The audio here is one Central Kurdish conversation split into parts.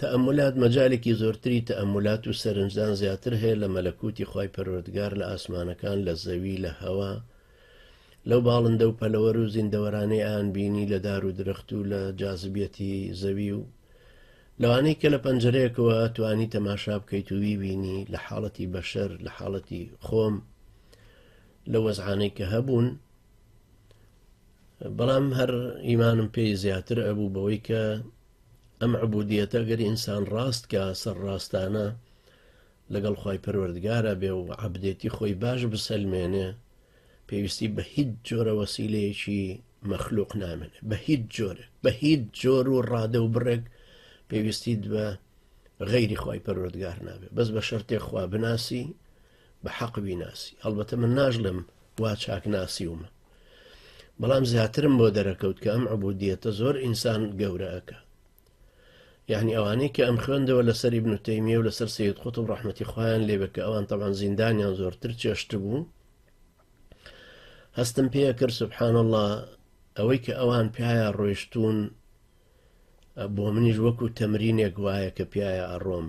تەئەمولات مەجالێکی زۆرتری تەئەمولات و سەرنجدان زیاتر هەیە لە مەلەکوتی خوای پەروەردگار لە ئاسمانەکان لە زەوی لە هەوا لەو باڵندە و پەلەوەر و زیندەوەرانەی ئەیان بینی لە دار و درەخت و لە جازبیەتی زەوی و لەوانەی کە لە پەنجەرەیەکەوە توانی تەماشا بکەیت و ویبینی لە حاڵەتی بەشەر لە حاڵەتی خۆم لە وەزعانەی کە هەبوون بەڵام هەر ئیمانم پێی زیاتر ئەبوو بەوەی کە ئەم عبودیەتە گەر ئینسان ڕاست کە سەر ڕاستانە لەگەڵ خی پەروەردگارە بێ و عبدێتی خۆی باش بسەلمێنێ پێویستی بە هیچ جۆرە وەسیلەیەکی مەخلوق نامێنێ بە هیچ جۆرێک بە هیچ جۆر و ڕادە و بڕێک پێویستیت بە غەیری خی پەروەردگار نابێت بەس بە شەرتێک خوا بناسی بە حەق بیناسی هەڵبەتە من ناژڵم وا چاک ناسی ومە بەڵام زیاترم بۆ دەرەکەوت کە ئەم عبودیەتە زۆر ئینسان گەورەکە یعنی ئەوانەی کە ئەم خوێندەوە لەسەری بنوتەیمیە و لەسەر سید قوت و ڕحمەتی خۆیان لێبێ کە ئەوان تەوان زیندانیان زۆرتر چێشت بوو هەستم پێ کرد سبحان الله ئەوەی کە ئەوان پیاە ڕۆیشتون بۆ منیش وەکو تەمرینێک وایە کە پیاە ئەڕۆم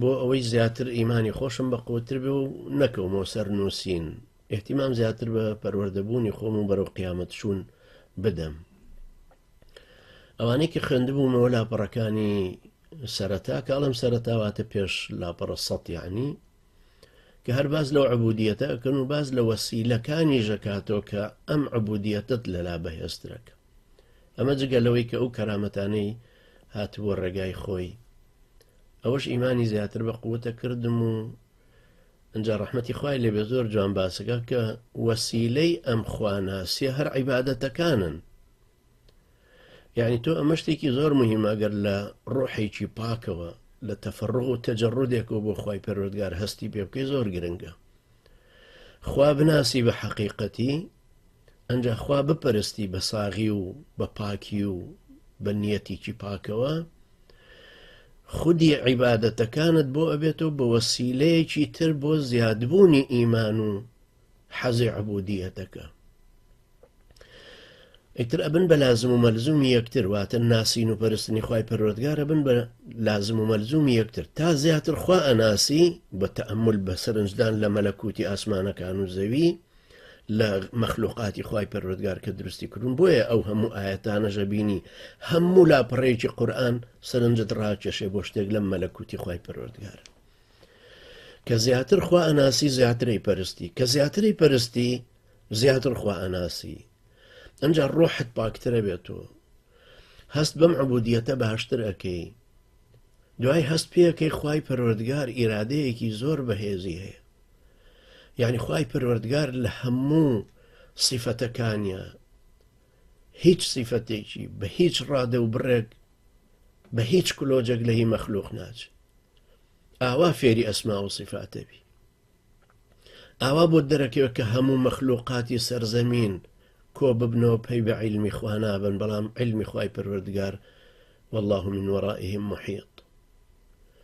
بۆ ئەوەی زیاتر ئیمانی خۆشم بە قوتر بێ و نەکەومەوە سەر نووسین ئحتیمام زیاتر بە پەروەردەبوونی خۆم و بەرەو قیامەت چوون بدەم ئەوانەی کە خوێندبوومەوە لاپەڕەکانی سەرەتا کاڵم سەرەتاواتە پێش لاپەڕە سەیانی کە هەر باس لەو عبودیەتە ئەکەن و باس لە وەسیلەکانیش ئەکاتەوە کە ئەم عبودیەتت لەلا بەهێزترەکە ئەمە جگە لەوەی کە ئەو کەرامەتانەی هاتبووە ڕێگای خۆی ئەوەش ئیمانی زیاتر بە قوتە کردم و ئەجا ڕحمەتی خوای لێبێ زۆر جوان باسەکە کە وەسیلەی ئەم خواناسیە هەر عیباەتەکانن یانی تۆ ئەمە شتێکی زۆر مهمە گەر لە ڕۆحێکی پاکەوە لە تەفەڕۆ و تەجەڕودێکەوە بۆ خی پەرۆردگار هەستی پێ بکەی زۆر گرنگە خوا بناسی بە حەقیقەتی ئەجا خوا بپەرستی بە ساغی و بە پاکی و بە نیەتێکی پاکەوە خودی عیباەتەکانت بۆ ئەبێتەوە بە وەسیلەیەکی تر بۆ زیادبوونی ئیمان و حەزی عبودیەتەکە ئیتر ئەبن بە لازم و مەلزومی یەکتر واتە ناسین و پەرستنی خی پەرۆتگار ئەبن بە لازم و مەلزومی یەکتر تا زیاتر خوا ئەناسی بە تەمل بە سەرنجدان لە مەلەکوتی ئاسمانەکان و زەوی لە مەخلوقاتی خی پەرۆتگار کە دروستی کردون بۆیە ئەو هەموو ئاەتانە ژەبینی هەموو لا پڕێکی قورآن سەرنجت ڕاکێشێ بۆ شتێک لەم مەلەکوتی خی پەرۆتگار کە زیاتر خوا ئەناسی زیاتری پەرستی کە زیاتری پەرستی زیاتر خوا ئەناسی ئەنجا ڕۆحت پاکترە بێت و هەست بەم عبودیەتە باشتر ئەەکەی دوای هەست پێەکەی خی پەروەردگار ئیرادەیەکی زۆر بەهێزی هەیە یعنی خی پەروەردگار لە هەموو سیفەتەکانیە هیچ سیفەتێکی بە هیچ ڕادە و بڕێک بە هیچ کلۆجێک لە هی مەخلوق ناچ ئاوا فێری ئەسما و سیفاتەبی ئاوا بۆ دەرەکەوێت کە هەموو مەخلوقاتی سەر زەمین کۆ ببنەوە پەی بە عیلمی خوا نابن بەڵام عیلمی خوای پەروەردگار والله من وەڕائهم محیط